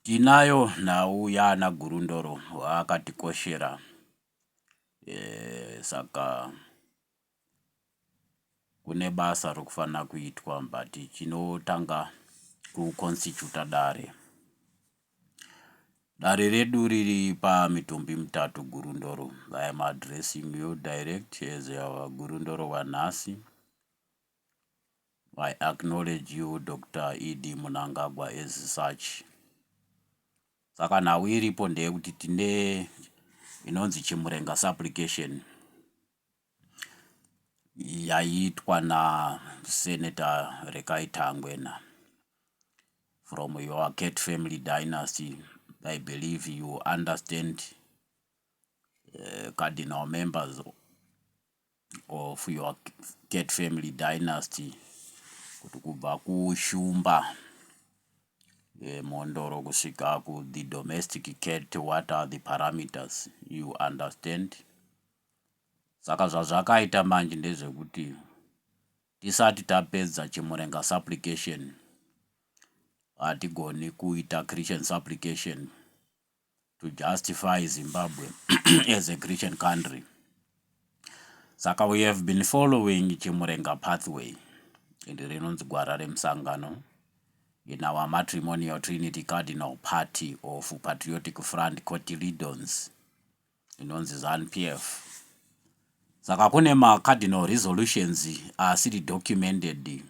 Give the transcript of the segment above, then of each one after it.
Tinayo nhau yaana Gurundoro waakatikoshera saka kune basa rokufanira kuitwa but chinotanga ku constituta dare. Dare redu riri pamitumbi mitatu Gurundoro. I am addressing you direct as our Gurundoro wanhasi. I acknowledge you Doctor ED Munangagwa as such. Saka nhau iripo ndeyekuti tine inonzi Chimurenga supplication yaiitwa naSenator Rekai Tangwena from your cat family dynasty. I believe you understand uh, cardinal members of your cat family dynasty kuti kubva kushumba yemhondoro eh, kusvika ku the domestic cat what are the parameters you understand saka zvazvakaita manje ndezvekuti tisati tapedza chimurenga supplication hatigoni kuita christian supplication to justify Zimbabwe as a Christian country. Saka we have been following Chimurenga pathway iri rinonzi gwara remusangano in our matrimonial trinity cardinal party of patriotic front cotilidons inonzi zanpf saka kune macardinal resolutions asiri documented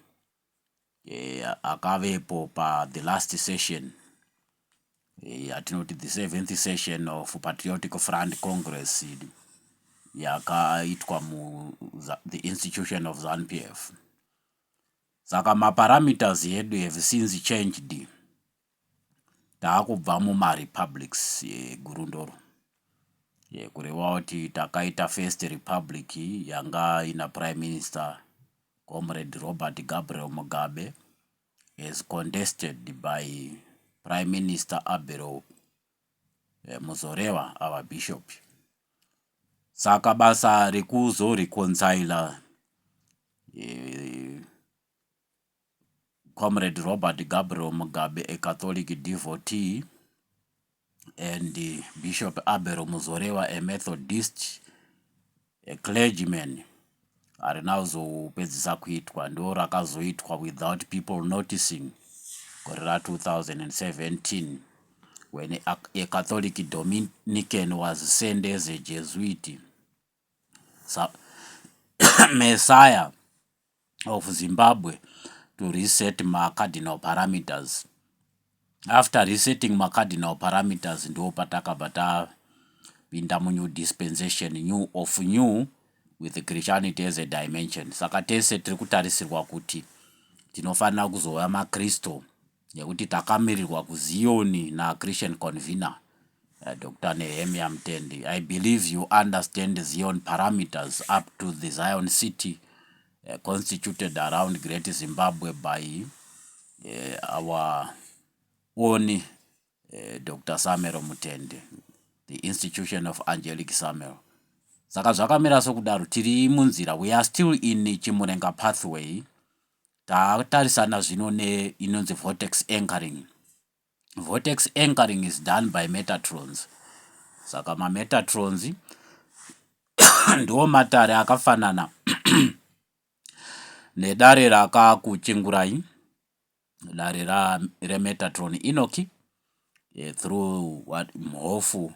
eh, akavepo pa the last session eh, yatinoti the seventh session of patriotic front congress yakaitwa mu the institution of zanpf saka maparameters edu have since changed takubva muma republics eGurundoro kureva kuti takaita first republic yanga ina prime minister comrade Robert Gabriel Mugabe as contested by prime minister Abelo eh, Muzoreva our bishop saka basa rekuzoreconcila eh, Comrade Robert Gabriel Mugabe, a Catholic devotee, and Bishop Abel Muzorewa, a Methodist, a clergyman, harina kuzopedzisa kuitwa ndo rakazoitwa without people noticing gore ra 2017 when a, a Catholic Dominican was sent as a Jesuit Messiah of Zimbabwe to reset ma cardinal parameters after resetting ma cardinal parameters ndo patakabva tapinda mu new dispensation new of new with Christianity as a dimension saka tese tiri kutarisirwa kuti tinofanira kuzova makristu Nekuti takamirirwa kuZion naChristian Convener, uh, Dr. Nehemia Mtendi. I believe you understand Zion parameters up to the Zion city uh, constituted around Great Zimbabwe by uh, our own uh, Dr. Samero Mtendi, the institution of Angelic Samero. Saka zvakamira sokudaro tiri munzira we are still in Chimurenga pathway Tatarisana zvino ne inonzi vortex anchoring. Vortex anchoring is done by metatrons. Saka ma metatrons ndiwo matare akafanana nedare rakakuchingurai dare remetatron inoki eh, through what mhofu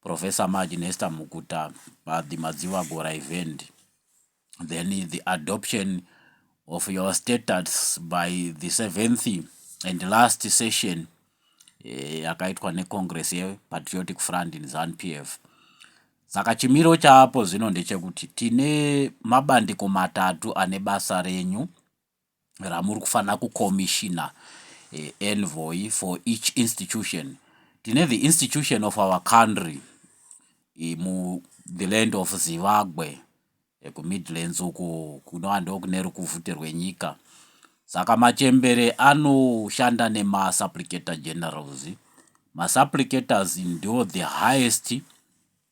Professor Maj Nesta Mukuta but the Madzivagora event then the adoption of your status by the seventh and last session eh, yakaitwa eh, necongress yepatriotic front in zanu p f saka chimiro chaapo zvino ndechekuti tine mabandiko matatu ane basa renyu ramuri kufanira kucommissiona envoy for each institution tine the institution of our country mu the land of zivagwe kumidlands uku kunova ndokune rukuvhute rwenyika saka machembere anoshanda nemasupplicator generals masupplicators ndo the highest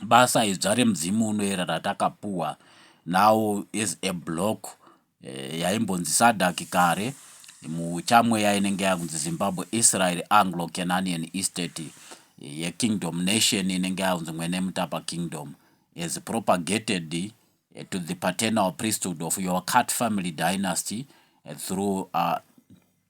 basa idzva remudzimu unoera ratakapuwa now as a block eh, yaimbonzi sadak kare muchamweya inenge yakunzi zimbabwe israel anglo cananian estate eh, yekingdom nation inenge yakunzi mwene mutapa kingdom as propagated eh, to the paternal priesthood of your cat family dynasty eh, through uh,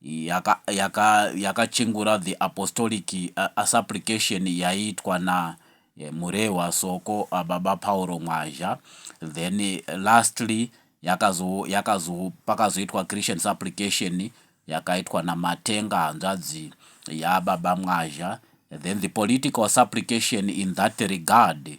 yaka, yaka, yakachengura the apostolic uh, supplication yaiitwa na eh, Murehwa Soko uh, baba Pauro Mwazha then eh, lastly yakazo yakazo pakazoitwa Christian supplication yakaitwa na Matenga hanzvadzi ya baba Mwazha then the political supplication in that regard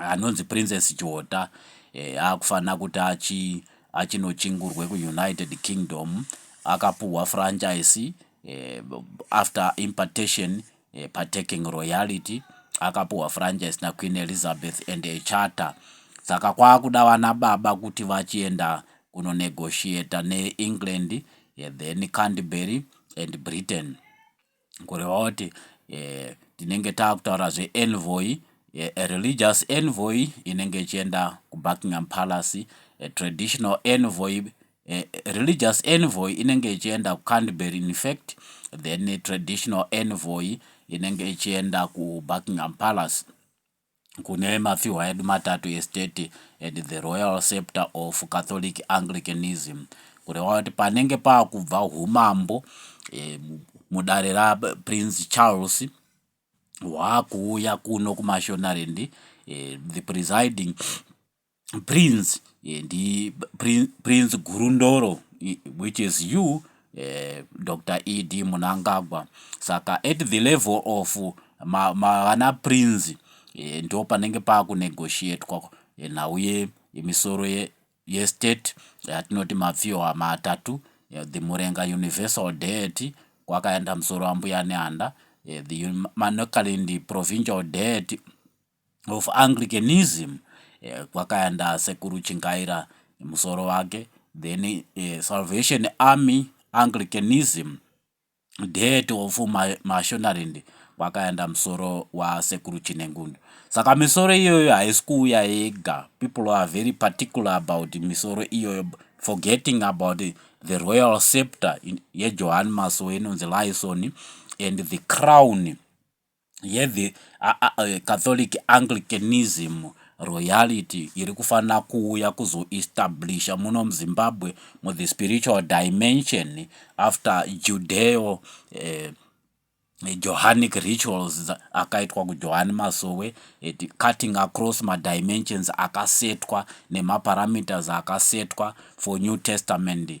anonzi Princess Jota eh, akufanira kuti achi achinochingurwe kuunited kingdom akapuhwa franchise eh, after impartation eh, partaking royalty akapuhwa franchise naqueen elizabeth and echata saka kwaakuda vana baba kuti vachienda kunonegotiata neengland eh, then canterbury and britain kureva kuti eh, tinenge taakutaura zveEnvoy eh, a religious envoy inenge ichienda kubuckingham palace a traditional envoy eh, religious envoy inenge ichienda kucanterbury in fact then traditional envoy inenge ichienda kubuckingham palace kune mapfihwa edu matatu estate and the royal scepter of Catholic Anglicanism kureva kuti panenge pakubva humambo eh, mudare raPrince Charles hwakuuya kuno kuMashonaland eh, the presiding Prince eh, ndi Prin- Prince Gurundoro i- which is you eh, Dr. ED Munangagwa saka at the level of ma, ma, vana Prince eh, ndo panenge pakunegotiatwa eh, nhau ye yemisoro ye, yestate yatinoti mapfiwa matatu eh, the Murenga Universal Deity kwakaenda musoro wambuya Nehanda eh, the Manokalindi Provincial Deity of Anglicanism eh, kwakaenda sekuru Chingaira musoro wake then eh, Salvation Army Anglicanism dead of Mashonaland kwakaenda musoro wasekuru Chinengundu saka misoro iyoyo haisi kuuya yega people are very particular about misoro iyoyo forgetting about the royal scepter yejohan masowe inonzi lyson and the crown yedhe Catholic Anglicanism royalty iri kufanira kuuya kuzoestablisha muno muZimbabwe muthe spiritual dimension after Judeo eh, Johanic rituals akaitwa kuJohani Masowe at cutting across madimensions akasetwa nemaparameters akasetwa for New Testament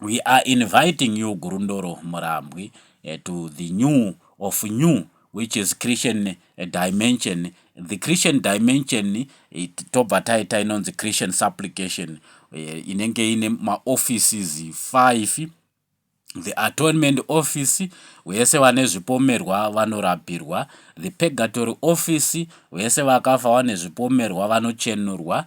We are inviting you Gurundoro Murambwi eh, to the new of new which is Christian eh, dimension. The Christian dimension eh, tobva taita inonzi Christian supplication inenge ine maoffices 5 the atonement office vese vane zvipomerwa vanorapirwa the purgatory office vese vakafa vane zvipomerwa vanochenurwa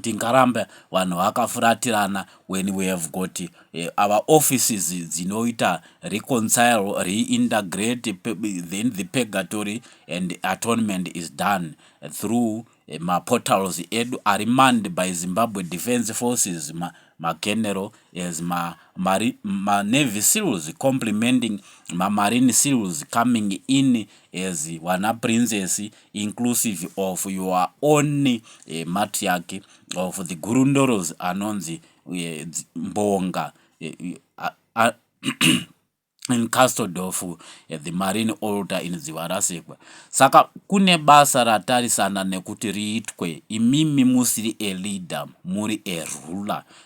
tingarambe vanhu vakafuratirana when we have got uh, our offices dzinoita reconcile reintegrate then the purgatory and atonement is done through eh, maportals edu ari manned by zimbabwe defense forces ma, mageneral as manavy ma, ma seals complementing mamarine seals coming in as wana princess inclusive of your own uh, matriarch of the gurundoros anonzi uh, mbonga uh, uh, in custod of uh, the marine alter in dzivarasekwa saka kune basa ratarisana nekuti riitwe imimi musiri aleader muri aruler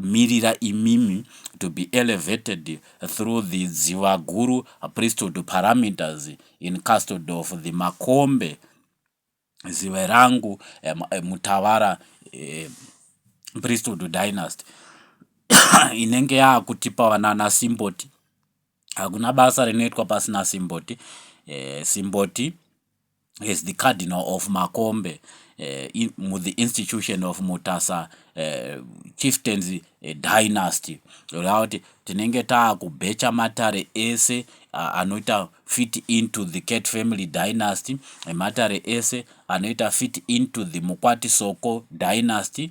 Mirira imimi to be elevated through the Dzivaguru priesthood parameters in custod of the Makombe Ziverangu Mutavara priesthood dynasty inenge yaakutipa vanana Simboti. Hakuna basa rinoitwa pasina Simboti. Eh, Simboti as the cardinal of Makombe uh, in, the institution of Mutasa uh, chieftains uh, dynasty kuti tinenge taakubhecha matare ese uh, anoita fit into the cat family dynasty matare ese anoita fit into the mukwati soko dynasty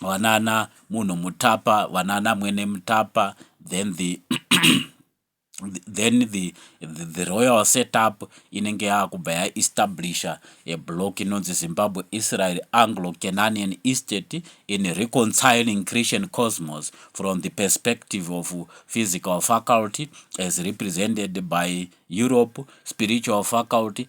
vanana munhu mutapa vanana mwene mutapa then the then the, the, the royal setup inenge yaakubva yaestablisha a block inonzi zimbabwe israel anglo cananian estate in reconciling christian cosmos from the perspective of physical faculty as represented by europe spiritual faculty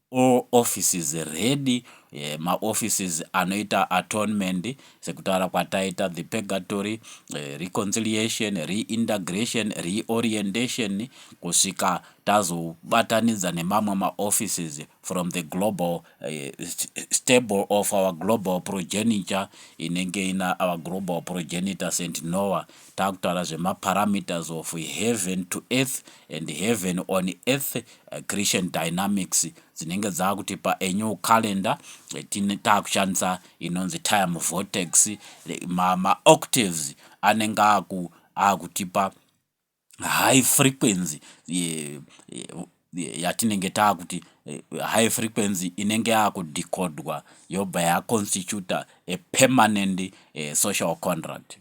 All offices ready, ma offices anoita atonement sekutaura kwataita, the purgatory, reconciliation, reintegration, reorientation kusvika tazobatanidza nemamwe ma offices from the global stable of our global progeniture inenge ina our global progenitor Saint Noah takutaura zvema parameters of heaven to earth and heaven on earth Eh, Christian Dynamics dzinenge dzakuti paannual calendar eh, takushandisa inonzi time vortex eh, maoctaves anenge aku akutipa high frequency yatinenge taakuti high frequency inenge yakudekodwa yobva yaconstituta a permanent social contract